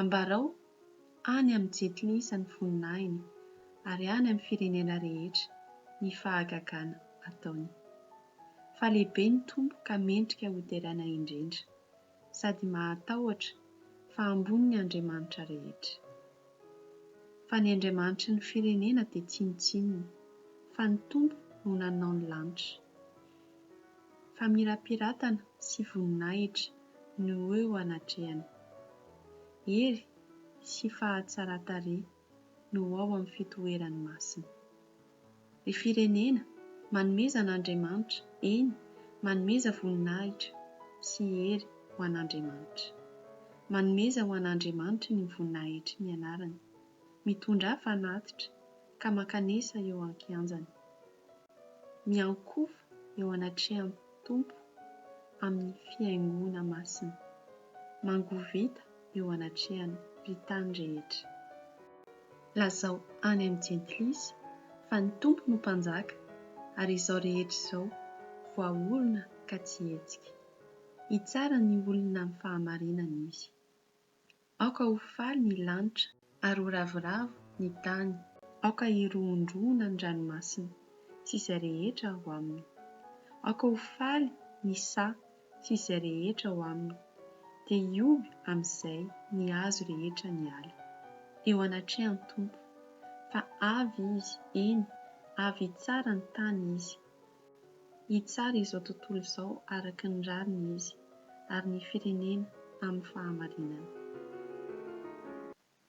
Ambarao any amin'ny jetly isan'ny voninahiny, ary any amin'ny firenena rehetra, ny fahagagana ataony. Fa lehibe ny Tompo ka mendrika hoderaina indrindra, sady mahatahotra fa ambony ny andriamanitra rehetra. Fa ny andriamanitry ny firenena dia tsinontsinona, fa ny Tompo no nanao ny lanitra. Famirapiratana sy voninahitra no ho eo anatrehany. Hery sy fahatsaran-tarehy no ho ao amin'ny fitoerany masina. Ry firenena, manomeza an'Andriamanitra, eny, manomeza voninahitra sy hery ho an'Andriamanitra. Manomeza ho an'Andriamanitra ny voninahitry ny anarany. Mitondrà fanatitra ka mankanesa eo an-kianjany. Miankohoka eo anatrehan'ny Tompo amin'ny fihaingoana masina. Mangovita eo anatrehan'ny mpitany rehetra. Lazao any amin'ny jentilisa fa ny Tompo no Mpanjaka ary izao rehetra izao voaorina ka tsy hetsika. Hitsara ny olona amin'ny fahamarinana Izy. Aoka ho faly ny lanitra, ary ho ravoravo ny tany. Aoka hirohondrohona ny ranomasina, sy izay rehetra ao aminy. Aoka ho faly ny saha, sy izay rehetra ao aminy, dia hihoby amin'izay ny hazo rehetra ny ala, eo anatrehan'ny Tompo. Fa avy Izy, eny, avy hitsara ny tany Izy. Hitsara izao tontolo izao araka ny rariny Izy, ary ny firenena amin'ny fahamarinana.